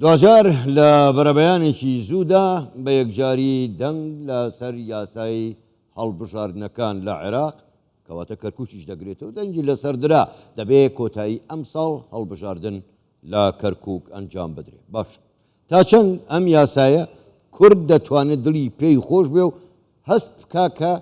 دواجار لە بەرەبەیانێکی زوودا بە یەکجاری دەنگ لە سەر یاسای هەڵبژاردنەکان لە عێراق کەواتە کەرکوچیش دەگرێتەوە دەنگی لەسەر درا دەبێ کۆتایی ئەم ساڵ هەڵبژاردن لە کەرکک ئەنجام بدرێ باش تا چەند ئەم یاسایە کورد دەتوانێت دڵی پێی خۆش بێ و هەست بکا کە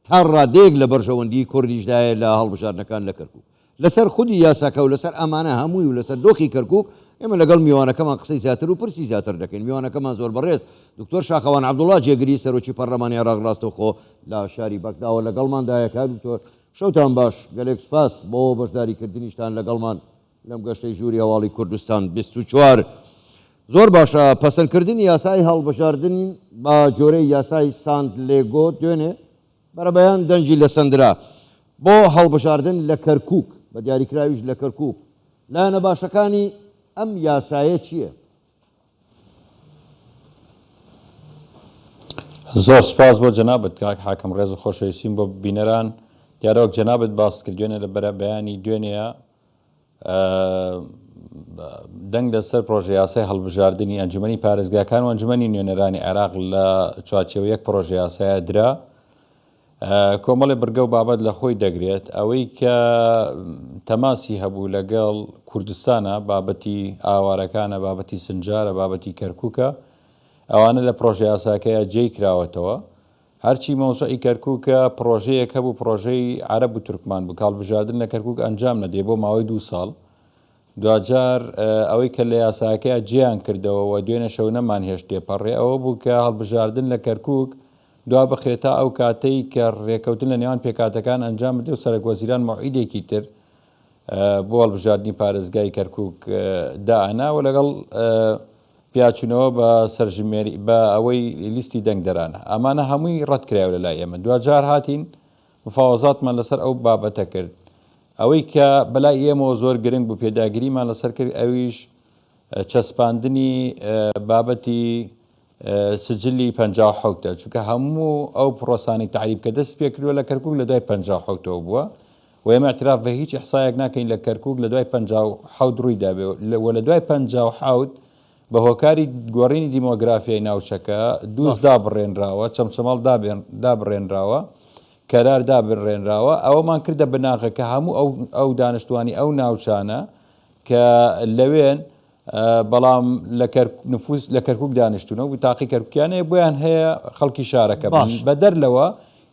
تا ڕادەیەک لە بەرژەوەندیی کوردیشدایە لە هەڵبژاردنەکان لە کەرکووک. لەسەر خودی یاساکە و لەسەر ئەمانە هەمووی و لەسەر دۆخی کەرکووک، ئێمە لەگەڵ میوانەکەمان قسەی زیاتر و پرسی زیاتر دەکەین. میوانەکەمان زۆر بەڕێز دکتۆر شاخەوان عەبدوڵڵا، جێگری سەرۆکی پەرلەمانی عێراق ڕاستەوخۆ لە شاری بەغداوە لەگەڵماندایە. کاک دکتۆر، شەوتان باش. گەلێک سوپاس بۆ بەشداریکردنیشتان لەگەڵمان. لەم گەشتەی ژووری هەواڵی کوردستان بیست و چوار زۆر باشە پەسەندکردنی یاسای هەڵبژاردن بە جۆرەی یاسای سانت لێگۆ دوێنێ بەرەبەیان دەنگی لەسەندرا بۆ هەڵبژاردن لە کەرکوک بە دیاریکراویش لە کەرکوک لایەنە باشەکانی ئەم یاسایە چییە؟ زۆر سپاس بۆ جەنابت کاک حاکم ڕێز و خۆشەویستیم بۆ بینەران دیارە وەک جەنابت باست کرد دوێنێ لە بەرە بەیانی دوێنێە دەنگ لەسەر پرۆژە یاسای هەڵبژاردننی ئەنجومی پارێزگاکان و ئەنجومی نوێنەرانی عێراق لە چوارچەوە یەک پرۆژە یاسایە درا کۆمەڵێ بڕگە و بابەت لە خۆی دەگرێت، ئەوەی کە تەماسی هەبوو لەگەڵ کوردستانە، بابەتی ئاوارەکانە، بابەتی سنجارە، بابەتی کەرکووکە، ئەوانە لە پڕۆژەیاساکەیا جێی کراوەتەوە، هەرچی مەوزوعی کەرکووکە پڕۆژەیەک هەبوو پڕۆژەی عەرەب و تورکمان بوو کە هەڵبژاردن لە کەرکووک ئەنجام نەدرێ بۆ ماوەی دوو ساڵ دواجار ئەوەی کە لە یاساکەیا جێیان کردەوە و دوێنێ شەو نەمانهێشت تێپەڕێ، ئەوە بوو کە هەڵبژاردن لە کەرکووک دوا بخرێت تا ئەو کاتەی کە رێککەوتن لە نێوان پێکهاتەکان ئەنجام بدرێ و سەرەکوەزیران مەوعیدێکی تر بۆ هەڵبژاردنی پارێزگای کەرکووک دائەنا و لەگەڵ پیاچوونەوە بە سەرژمێری بە ئەوەی لیستی دەنگدەرانە ئەمانە هەمووی رەتکرایەوە لەلای ئێمە دواجار هاتین مفاوەزاتمان لەسەر ئەو بابەتە کرد. ئەوەی کە بەلای ئێمەوە زۆر گرنگ بوو پێداگریمان لەسەر کرد ئەویش چەسپاندنی بابەتی سجلی پەنجا و حەوتە چونکە هەموو ئەو پرۆسانەی تەعریب کە دەست پێ کردووە لە کەرکوک لە دوای پەنجا و حەوتەوە بووە و ئێمە اعتراف بە هیچ احصایەک ناکەین لە کەرکوک لە دوای پەنجا و حەوت ڕووی دابێ و لە دوای پەنجا و حەوت بە هۆکاری گۆڕینی دیمۆگرافیای ناوچەکە، دووز دابڕێنراوە، چەمچەماڵ دابڕێنراوە، کەرار دابڕێنراوە، ئەوەمان کردە بناغە کە هەموو ئەو دانیشتوانی ئەو ناوچانە کە لەوێن بەڵام لە نفوس لە کەرکوک دانیشتونە و بتاقی کەرکوکیان هەیە بۆیان هەیە خەڵکی شارەکە بن، بەدەر لەوە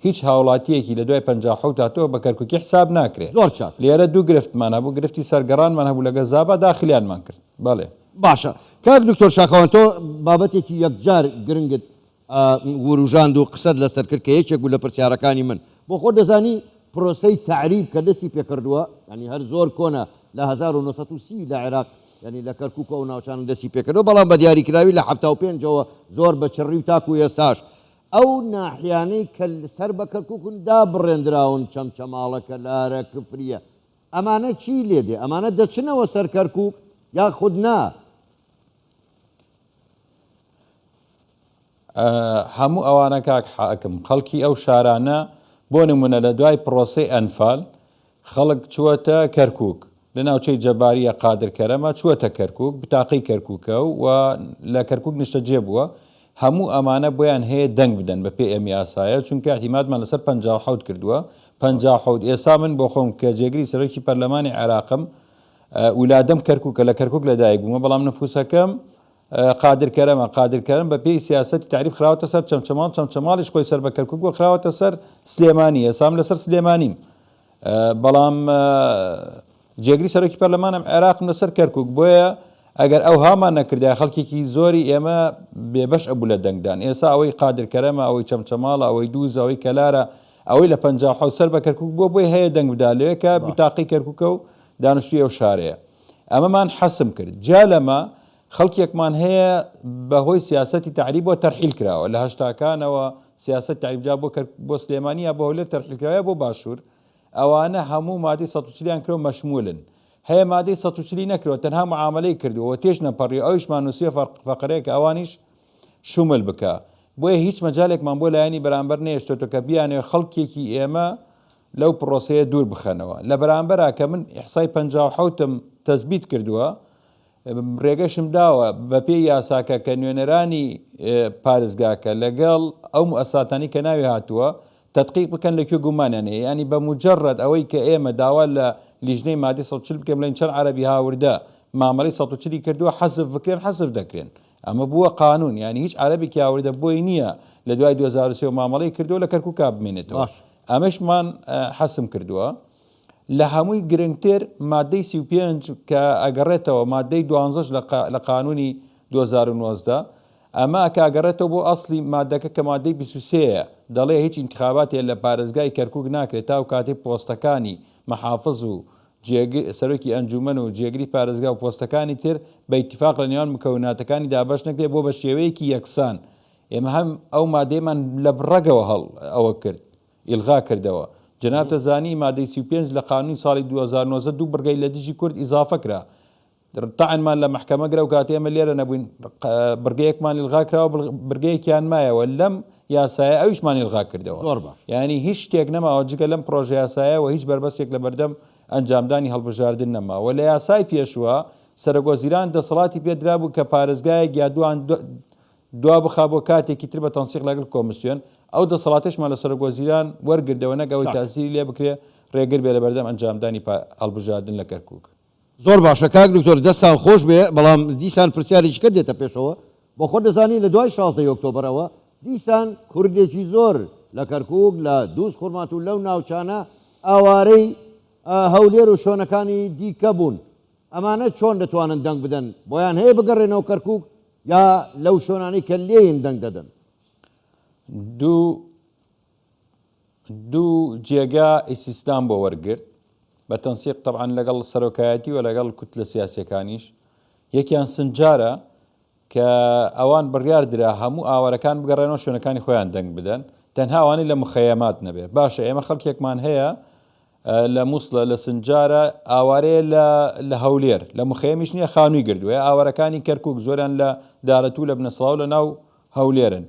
هیچ هاوڵاتیەکی لە دوای پەنجا و حەوت هاتووە بە کەرکوکی حساب ناکرێ. زۆر چاک. لێرە دوو گرفتمان هەبوو، گرفتی سەر گەڕانمان هەبوو لەگە زابا داخلیانمان کرد. بەڵێ. باشە کاک دکتۆر شاخەوان تۆ بابەتێکی یەکجار گرنگت وروژاند و قسەت لەسەر کرد کە یەکێک بوو لە پرسیارەکانی من بۆ خۆت دەزانی پرۆسەی تەعریب کە دەستی پێکردووە یانی هەر زۆر کۆنە لە هەزار و نۆ سەد و سی لە عێراق یانی لە کەرکوک و ئەو ناوچانە دەستی پێکردووە بەڵام بە دیاریکراوی لە حەفتا و پێنج ەوە زۆر بە چڕی و تاکو ئێستاش ئەو ناحیانەی کە سەر بە کەرکوکن دابڕێندراون، چەمچەماڵە، کەلارە، کفریە، ئەمانە چی لێ دێ؟ ئەمانە دەچنەوە سەر کەرکوک یاخود نا؟ هەموو ئەوانە کاک حاکم خەڵکی ئەو شارانە بۆ نمونە لە دوای پرۆسەی ئەنفال خەڵک چووەتە کەرکووک، لە ناوچەی جەبارییە قادر کەرەمە چووەتە کەرکووک، بتاقەی کەرکووکە و لە کەرکووک نیشتەجێ بووە، هەموو ئەمانە بۆیان هەیە دەنگ بدەن بە پێ ئێمی ئاسایە، چونکە اعتیمادمان لەسەر پەنجا و حەوت کردووە، پەنجا و حەوت، ئێسا من بۆ خۆم کە جێگری سەرۆکی پەرلەمانی عێراقم، ولادەم کەرکووکە، لە کەرکووک لەدایک بوومە، بەڵام نفووسەکەم، قادر کەرەمە، قادر کەرەم بە پێی سیاسەتی تەعریب خراوەتە سەر چەمچەماڵ، چەمچەماڵیش خۆی سەر بە کەرکوک بووە خراوەتە سەر سلێمانی، ئێسام لە سەر سلێمانیم، بەڵام جێگری سەرۆکی پەرلەمانم عێراقم لە سەر کەرکوک، بۆیە ئەگەر ئەو هامان نەکردای خەڵکێکی زۆری ئێمە بێبەش ئەبوو لە دەنگدان، ئێسا ئەوەی قادر کەرەمە، ئەوەی چەمچەماڵە، ئەوەی دووز، ئەوەی کەلارە، ئەوەی لە پەنجا و حەوت سەر بە کەرکوک بووە بۆی هەیە دەنگ بدا لەوێ کە بیتاقەی کەرکوکە و دانشتوی ئەو شارەیە. ئەمەمان حەسم کرد. جیا لەمە، خەڵکێکمان هەیە بە هۆی سیاسەتی تەعریبەوە تەرحیل کراوە. لە هەشتاکانەوە سیاسەتی تەعریب جا بۆ کەرک بۆ سلێمانی یا بۆ هەولێر تەرحیل کراوە یا بۆ باشوور، ئەوانە هەموو مادەی سەد و چل یان کراو مەشموولن. هەیە مادەی سەد و چل ی نەکراوە تەنها معامەلەی کردووە و تێش نەپەڕیوە ئەویشمان نووسیوە فە فەقرەیە کە ئەوانیش شومل بکا. بۆیە هیچ مەجالێکمان بۆ لایەنی بەرامبەر نەهێشتۆتەوە کە بیانەوێت خەڵکێکی ئێمە لەو پرۆسەیە دوور بخەنەوە لە بەرامبەرا کە من ئیحسای پەنجا و حەوت م تەسبیت کردووە رێگەشم داوە بە پێی یاساکە کە نوێنەرانی پارێزگاکە لە گەڵ ئەو موئەسساتانەی کە ناوی هاتووە تەدقیق بکەن لە کوێ گومانیان هەیە یانی بە موجەرەد ئەوەی کە ئێمە داوا لە لیژنەی مادەی سەد و چل بکەین بڵێن چەند عەرەبی هاوردە مامەلەی سەد و چل ی کردووە حەزف بکرێن حەزف دەکرێن ئەمە بووە قانون یانی هیچ عەرەبێکی هاوردە بۆی نییە لە دوای دوو هەزار و سێ و مامەڵەی کردووە لە کەرکوکا بمێنێتەوە باش ئەمەشمان حەسم کردووە لە هەمووی گرنگتر مادەی سی و پێنج کە ئەگەڕێتەوە مادەی دوانزەش لە قا- لە قانونی دوو هەزار و نۆزدە ئەمە کە ئەگەڕێتەوە بۆ ئەسڵی مادەکە کە مادەی بیست و سێ یە دەڵێ هیچ ئینتخاباتێ لە پارێزگای کەرکوک ناکرێت تا ئەو کاتەی پۆستەکانی محافز و جێگر، سەرۆکی ئەنجوومەن و جێگری پارێزگا و پۆستەکانی تر بە ئیتیفاق لە نێوان مکەوناتەکانی دابەش نەکرێت بۆ بە شێوەیەکی یەکسان. ئێمە هەم ئەو مادەیەمان لە ڕەگەوە هەڵ ئەوە کرد، ئیلغا کردەوە. جەنابتە زانی مادەی سی و پێنج لە قانوونی ساڵی دوو هەزار و نۆزدە دوو بڕگەی لە دژی کورد ئیزافە کرا. تەعنمان لە مەحکەمە گرە و کاتێ ئێمە لێرە نەبووین بڕگەیەکمان ئیلغا کراوە و بڕگەیەکیان مایەوە لەم یاسایە ئەویشمان ئیلغا کردەوە. زۆر باش. یانی هیچ شتێک نەماوە جگە لەم پڕۆژەیاسایە و هیچ بەربەستێک لەبەردەم ئەنجامدانی هەڵبژاردن نەما و لە یاسای پێشووە سەرەکوەزیران دەسەڵاتی پێ درابوو کە پارێزگایەک یا دووان دوا بخا بۆ کاتێکی تر بە تەنسیق لەگەڵ کۆمسیۆن، ئەو دەسەڵاتەشمان لە سەرەکوەزیران وەرگردەوە نەک ئەوەی تاسیری لێ بکرێ رێگر بێ لەبەردەم ئەنجامدانی هەڵبژاردن لە کەرکووک. زۆر باشە کاک دکتۆر دەستان خۆش بێ بەڵام دیسان پرسیارێکیکە دێتە پێشەوە بۆ خۆت دەزانی لە دوای شازدە ی ئۆکتۆبەرەوە دیسان کوردێکی زۆر لە کەرکوک لە دووز خورمات و لەو ناوچانە ئاوارەی هەولێر و شۆنەکانی دیکە بوون ئەمانە چۆن دەتوانن دەنگ بدەن بۆیان هەیە بگەڕێنەوە کەرکوک یا لەو شۆنانەی کە لێین دەنگ دەدەن دوو دوو جێگا ئیستیسنام بۆ وەرگرت، بە تەنسیق تەبعەن لەگەڵ سەرۆکایەتی و لەگەڵ کوتلە سیاسییەکانیش، یەکیان سنجارە کە ئەوان بڕیار درا هەموو ئاوارەکان بگەڕێنەوە شوێنەکانی خۆیان دەنگ بدەن، تەنها ئەوانەی لە مخەیەمات نەبێت، باشە ئێمە خەڵکێکمان هەیە، لە موسڵە لە سنجارە ئاوارەیە لە لە هەولێر لە مخەیەمیش نیە خانووی گردووە ئاوارەکانی کەرکوک زۆران لە دارەتوو لە بنەسڵاو لە ناو هەولێرن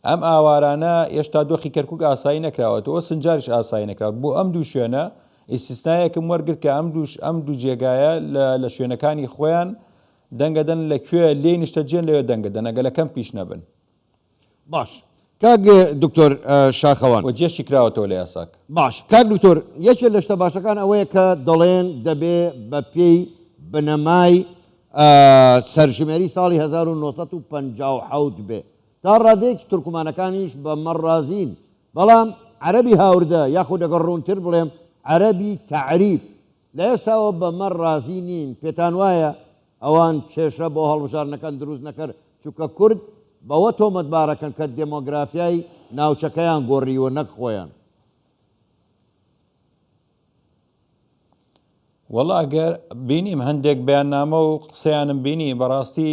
ئەم ئاوارانە ئێشتا دۆخی کەرکوک ئاسایی نەکراوەتەوە سنجاریش ئاسایی نەکراوە بۆ ئەم دوو شوێنە ئیسیسنایەکم وەرگر کە ئەم دووش ئەم دوو جێگایە لە لە شوێنەکانی خۆیان دەنگەدەن لە کوێ لێی نیشتەجێن لەوێ دەنگەدەن ئەگە لە کەمپیش نەبن باش کاک دکتۆر شاخەوان. وە جێشی کراوەتەوە لە یاساک. باش کاک دکتۆر یەکێ لە شتە باشەکان ئەوەیە کە دەڵێن دەبێ بە پێی بنەمای سەرژمێری ساڵی هەزار و نۆ سەد و پەنجا و حەوت بێ. تا ڕادەیەکی تورکمانەکانیش بە مە ڕازین. بەڵام عەرەبی هاوردە یاخود ئەگەر ڕوونتر بڵێم عەرەبی تەعریب لە ئێستاوە بە مەر ڕازی نین پێتان وایە ئەوان کێشە بۆ هەڵبژاردنەکان دروست نەکەر چونکە کورد بەوە تۆمەتبارەکەن کە دێمۆگرافیای ناوچەکەیان گۆڕیوە نەک خۆیان. وەڵا گەر بینیم هەندێک بەیاننامە و قسەیانم بینی بەڕاستی.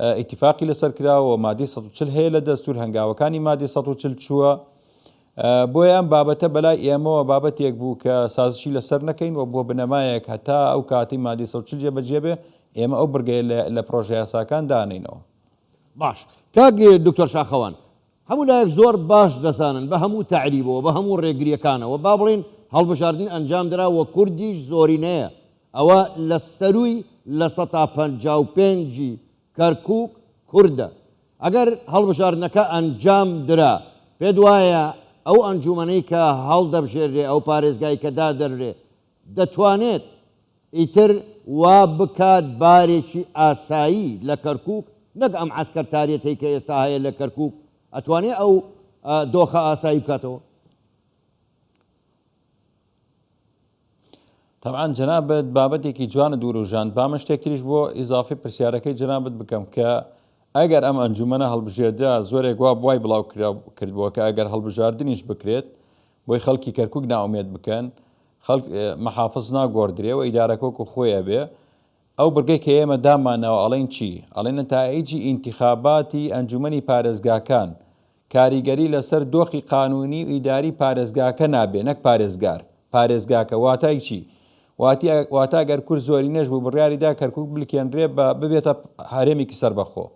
ئیتیفاقی لەسەر کراوە و مادەی سەد و چل هەیە لە دەستوور، هەنگاوەکانی مادەی سەد و چل چووە، بۆیە ئەم بابەتە بەلای ئێمەوە بابەتێک بوو کە سازشی لەسەر نەکەین و بووە بنەمایەک هەتا ئەو کاتەی مادەی سەد و چل جێبەجێ بێ ئێمە ئەو بڕگەیە لە پڕۆژەیاساکان دانەینەوە. باش. کاک دکتۆر شاخەوان، هەموو لایەک زۆر باش دەزانن بە هەموو تەعریبەوە، بە هەموو ڕێگرییەکانەوە با بڵێین هەڵبژاردن ئەنجام درا و کوردیش زۆرینەیە، ئەوە لە سەرووی لە سەتا پەنجا و پێنج ی کەرکووک کوردە. ئەگەر هەڵبژاردنەکە ئەنجام درا، پێت وایە ئەو ئەنجوومەنەی کە هەڵدەبژێررێ، ئەو پارێزگای کە دادەنرێ، دەتوانێت ئیتر وا بکات بارێکی ئاسایی لە کەرکوک نەک ئەم عەسکەرتاریەتەی کە ئێستا هەیە لە کەرکوک ئەتوانێت ئەو دۆخە ئاسایی بکاتەوە. تەبعەن جەنابت بابەتێکی جوانت وروژاند با من شتێک تریش بۆ ئیزافی پرسیارەکەی جەنابت بکەم کە ئەگەر ئەم ئەنجومەنە هەڵبژێردرا زۆرێک وا بوای بڵاو کردبووە کە ئەگەر هەڵبژاردنیش بکرێت بۆی خەڵکی کەرکوک نائومێد بکەن خەڵک محافز ناگۆڕدرێ و ئیدارەکە وەکو خۆی ئەبێ ئەو بڕگەی کە ئێمە دامانەوە ئەڵێن چی ئەڵێ نەتائیجی ئینتیخاباتی ئەنجومەنی پارێزگاکان کاریگەری لەسەر دۆخی قانونی و ئیداری پارێزگاکە نابێ نەک پارێزگار پارێزگاکە واتای چی واتی واتا گەر کورد زۆرینەش بوو بڕیاری دا کەرکوک بلکێنرێ بە ببێتە هەرێمێکی سەربەخۆ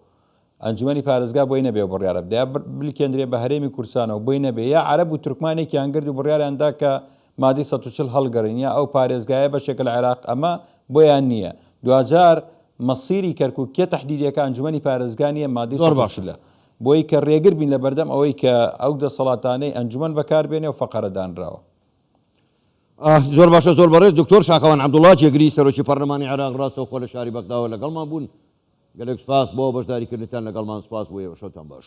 ئەنجومەنی پارێزگا بۆی نەبێ و بڕیارە بدە یا بلکێندرێ بە هەرێمی کوردستان و بۆی نەبێ یا عەرەب و تورکمان یەکیان گرد و بڕیاریان دا کە مادەی سەد و چل هەڵگەڕین یا ئەو پارێزگایە بەشێکە لە عێراق ئەمە بۆیان نییە دواجار مەسیری کەرکوک کێ تەحدیدی ئەکا ئەنجومەنی پارێزگا نییە مادەی سەد و چل بۆی کە رێگر بین لە بەردەم ئەوەی کە ئەو دەسەڵاتانەی ئەنجومەن بەکار بێنێ و فەقەرە دانراوە ئاه زۆر باشە زۆر بەڕێز دکتۆر شاخەوان عەبدوڵا جێگری سەرۆکی پەڕلەمانی عێراق ڕاستەوخۆ لە شاری بەغداوە لەگەڵمان بوون گەلێک سپاس بۆ بەشداریکردنتان لەگەڵمان سپاس بۆ ئێوە شەوتان باش.